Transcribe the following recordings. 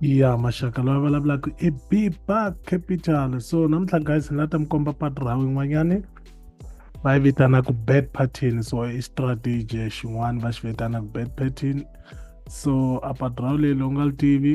ya maxaka loyi a vulavulaka i biba capital so namuntlha guys ni la ta mi komba patu ra yin'wanyani va yi vitanaka bad pattern so i strategy xin'wana va xi vitanaka bad pattern so a patu ra leyi lowu nga li tivi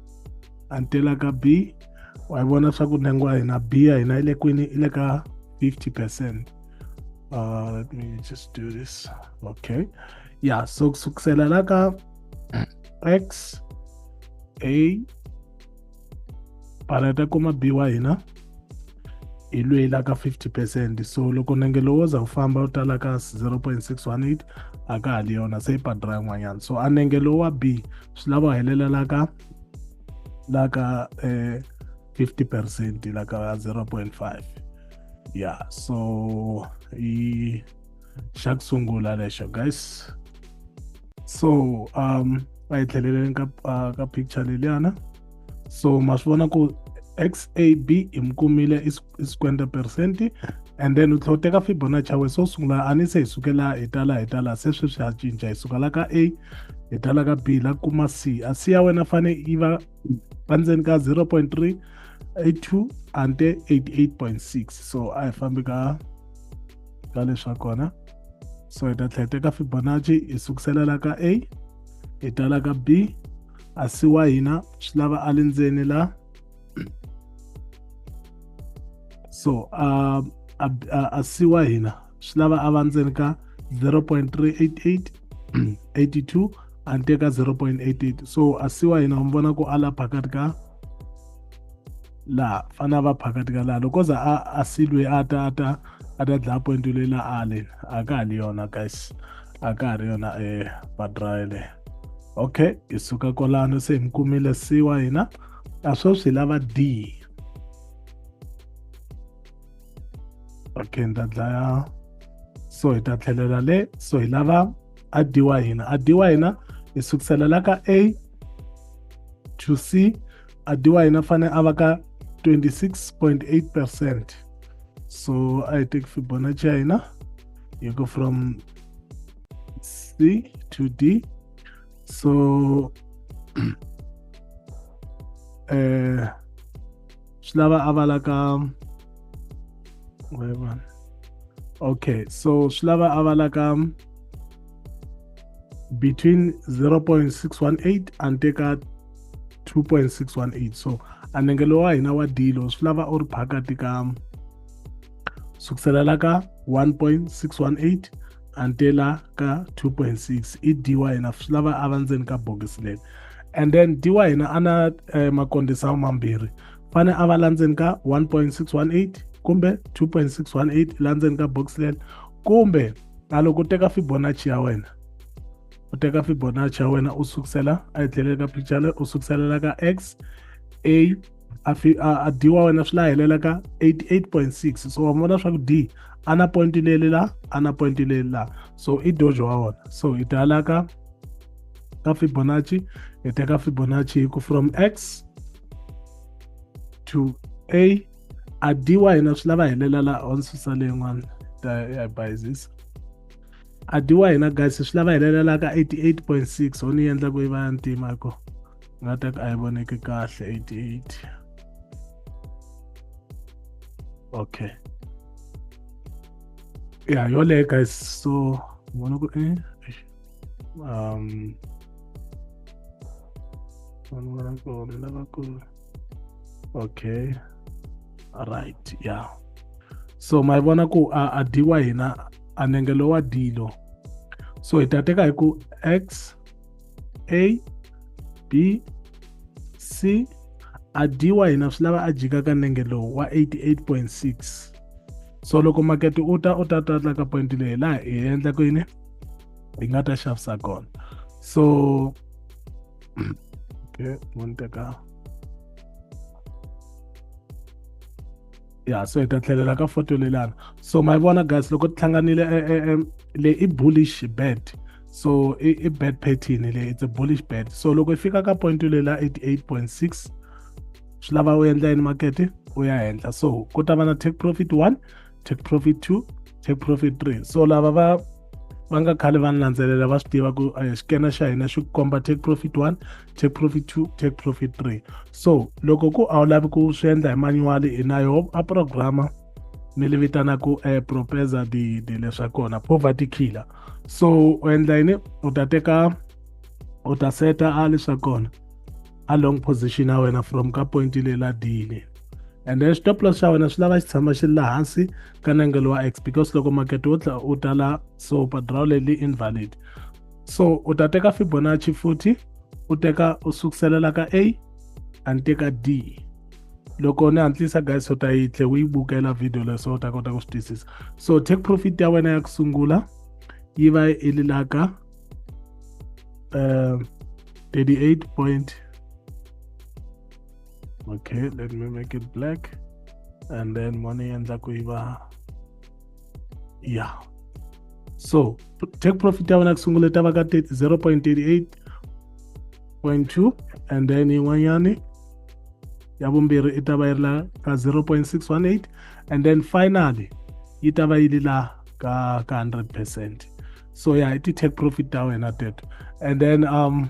until ka b wa yi vona swa ku ntsengo wa hina b ya hina yi le kwini yi le ka 50 percent uh, let me just do this okay yeah so kusukisela la ka x a baleta kuma b wa hina hi lweyi la ka 50 percent so loko nenge lowo za wu famba wu tala ka 0.618 a ka ha li yona se yi padra yin'wanyana so a nenge lowu wa b swi lava helela la ka la ka eh, 50 percent la ka 0.5 ya so i xa ku sungula lexo guys so um a hi tlheleleni ka, uh, ka picture leliyana so ma swi vona ku xab hi mi kumile i 50 percent and then u tlhela u teka fibonacci ya wena so sungula a ni se hi sukela hi tala hi tala se sweswi ha cinca hi sukela ka a hi tala ka b la kuma c a c ya wena fane yi va va ndzeni ka 0.3 82 ante 88.6 so a hi fambi ka ka leswa kona so hi ta tlhela hi teka fibonacci hi sukusela la ka a hi tala ka b asi wa hina swi lava a le ndzeni la so uh, asi wa hina swi lava a va ndzeni ka 0.388 82 a ni teka 0.88 so asi wa hina mi vona ku a la phakati ka laha fana va phakati ka laha loko za a a silwe a ta a ta a ta dlaya point leyi la ale a ka ha li yona guys a ka ha ri yona e padraile okay hi suka kwalano se hi mi kumile c wa hina a sweswi hi lava d okay ni ta dlaya so hi ta tlhelela le so hi lava a d wa hina a d wa hina hi sukusela la ka a to c a d wa hina fane a va ka 26.8 percent so a hi teki fibonacci ya hina you go from C to D. So uh, eh, Shlava Avalaka. Wait one. Okay, so Shlava Avalaka between 0.618 and take out 2.618. So anengelo wa hina wa dilo swi lava u ri phakati ka sukuselela ka 1.618 antela ka 2.6 i dy na swi lava a va ndzeni ka bokisi leri and then dy na a na eh, makondisa mambirhi fane a va la ndzeni ka 1.618 kumbe 2.618 la ndzeni ka box leri kumbe a loko u teka fibonacci ya wena u teka fibonacci ya wena u sukusela a yi tlhelele ka picture leyi u sukuselela ka x a a, fi, a, a d wa wena swi la helela ka 88.6 so wa vona swa ku d a na point leli la a na point leli la so i dojo wa wona so i tala ka ka fibonacci i teka fibonacci hi ku from x to a a d wa hina swi lava helela la on susa leyin'wana ta ya bayizisa a d wa hina guys swi lava helela la ka 88.6 ho ni endla ku yi va ya ntima ko nga ta ka a yi voneki kahle 88 okay ya yoleyo guys so vona ku eh, eh um vanhu va kona lavakulu okay right yeah so ma vona ku a, a dyiwa hina a nenge lowa dilo so hi ta teka hi ku x A B C a dyi wa hina swi lava a jika ka nenge lowu wa 88.6 so loko makete u ta u ta tatla ka point leyi laha hi endla ku yini hi nga ta xavisa kona so okay mo ni teka ya so hi ta tlhelela ka foto lelana so ma yi vona guys loko ti hlanganile e, e, e, le i bullish bed so i, i bed pattern le it's a bullish bed so loko i fika ka point lela 88.6 swi lava u endla yini makete u ya henhla so ku ta va na take profit 1 take profit 2 take profit 3 so lava va va nga khale va ni landzelela va swi tiva ku xikena xa hina xi komba take profit 1 take profit two take profit three so loko ku a wu lavi ku swi endla hi manuwali hi na yo a programa ni li vitana ku um eh, propesa di di leswa kona poverty killer so u endla yini u ta teka u ta seta a leswa kona a long position ya wena from ka point leyi la dile and then stop loss xa wena swi lava xi tshama xi ri la hansi ka nengelo wa x because loko makete wo tla u tala so padraw leyi invalid so u ta teka fibonacci futhi u teka u sukuselela ka a a ni teka d loko ni hantlisa guys u ta yi tlhe u yi bukela video leswo u ta kota ku swi twisisa so take profit ya wena ya ku sungula yi va yi li la ka um 38 point okay let me make it black and then money endla ku yi va ya so take profit ya vona ku sungula ta va ka 0.38.2 and then yin'wanyani ya vumbirhi i ta va yi ri la ka 0.618 and then finally yi ta va yi ri la ka ka 100 percent so ya yeah, i ti-take profit ta wena teto and then um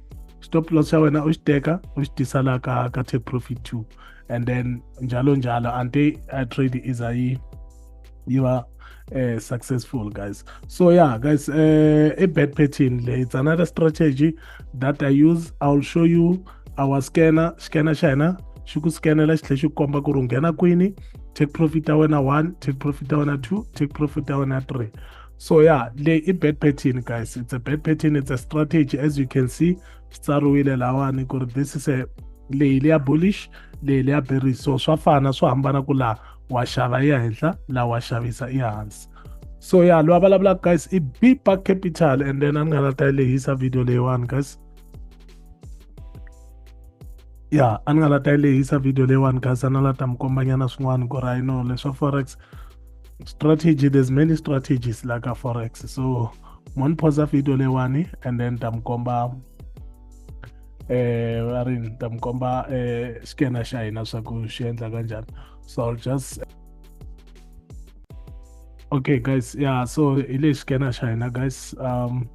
stop loss xa wena u xi teka u xi tisa la ka ka take profit two and then njalo njalo ante i trade iza yi yi va uh, successful guys so yeah guys uh, eh, a bad pattern le it's another strategy that i use i'll show you our scanner scanner xa hina xi ku scanela xi tlhe xi komba ku ri nghena kwini take profit ya wena one take profit ya wena two take profit ya wena three so yeah le i bad pattern guys it's a bad pattern it's a strategy as you can see swi tsariwile lawani ku ri this is a leyi leya bullish leyi leya bearish so swa fana swo hambana ku laha wa xava ya henhla laha wa xavisa i hansi so ya loyi a vulavulaka guys i bipa capital and then a ni nga la ta yi lehisa video leyiwani guys ya a ni nga la ta yi lehisa video leyiwani guys a na la ta mi kombanyana swin'wana ku ri ayino leswa forex strategy there's many strategies like a forex so moniphosa video lewani and then ta mi komba eh va ri ta mi komba eh xikena xa hina swa ku xi endla kanjhani so i'll just okay guys yeah so hi lexi xikena xa hina guys um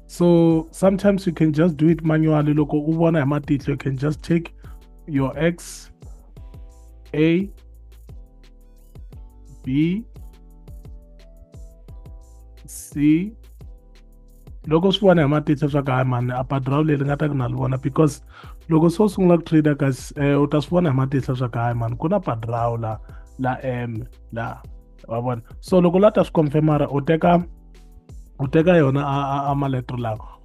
so sometimes you can just do it manually loko u vona hi matihlo you can just take your x a B C loko swi vona hi matitsa swa ka mani a padraw leri nga ta ku na li vona because loko se u sungula ku trader ka eh, u ta swi vona hi matihlo swa kahle mani ku na padraw la la m la wa vona so loko la ta swi confirmara u teka u teka yona a a a maletro lawa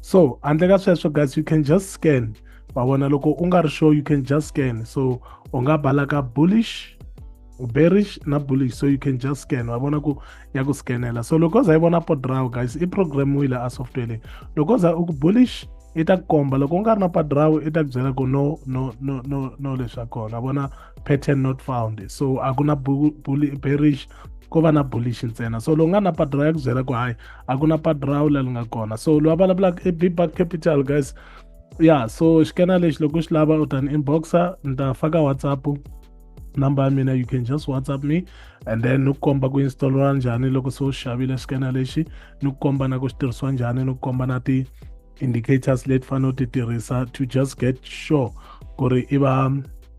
so handle ka sweswo guys you can just scan wa vona loko u nga ri sure you can just scan so u nga bala ka bullish bearish na bullish so you can just scan wa vona ku ya ku scanela so loko za yi vona podraw guys i programmiwile a software leyi loko za u ku bullish i ta komba loko u nga ri na padrawu i ta ku byela ku no no no no no leswi a kona vona pattern not found so a ku na bearish ko va na bullish ntsena so lowu nga na padra ya ku byela ku hayi a ku na padra wu lali nga kona so lowa vulavulaka i bibak capital guys ya so xikena lexi loko xi lava u ta ni inboxa ni ta faka whatsapp number ya mina you can just whatsapp me and then ni ku komba ku installeriwa njhani loko se u xavile xikena lexi ni ku komba na ku xi tirhisiwa njhani ni ku komba na ti indicators leti fanele u ti tirhisa to just get sure ku ri i va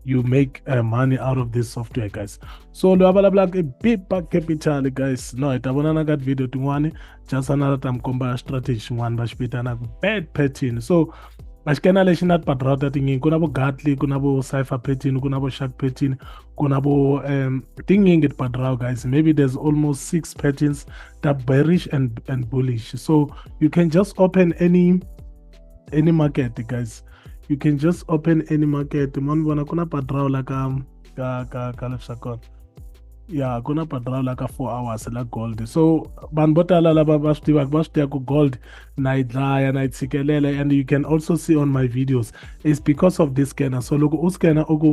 you make uh, money out of this software guys so loyi a vulavulaka i bipa capital guys no hi ta vonana ka tivhidiyo tin'wani jasana ra ta mi komba strategy xin'wana va xi vitanaka bad pattern so a xi kena lexi na tipadrawu ta tinyingi ku na vo gatly ku na vo cypher pattern ku na vo shark pattern ku na vo um tinyingi tipadrawu guys maybe there's almost six patterns they're bearish and and bullish so you can just open any any market guys you can just open any market mo ni vona ku na padrao la ka ka ka ka leswa kona ya ku na padrao la ka four hours la gold so vanhu vo tala lava va swi tivaka va swi tiva ku gold na yi dlaya na yi tshikelela and you can also see on my videos is because of this scanner so loko u scanner u ku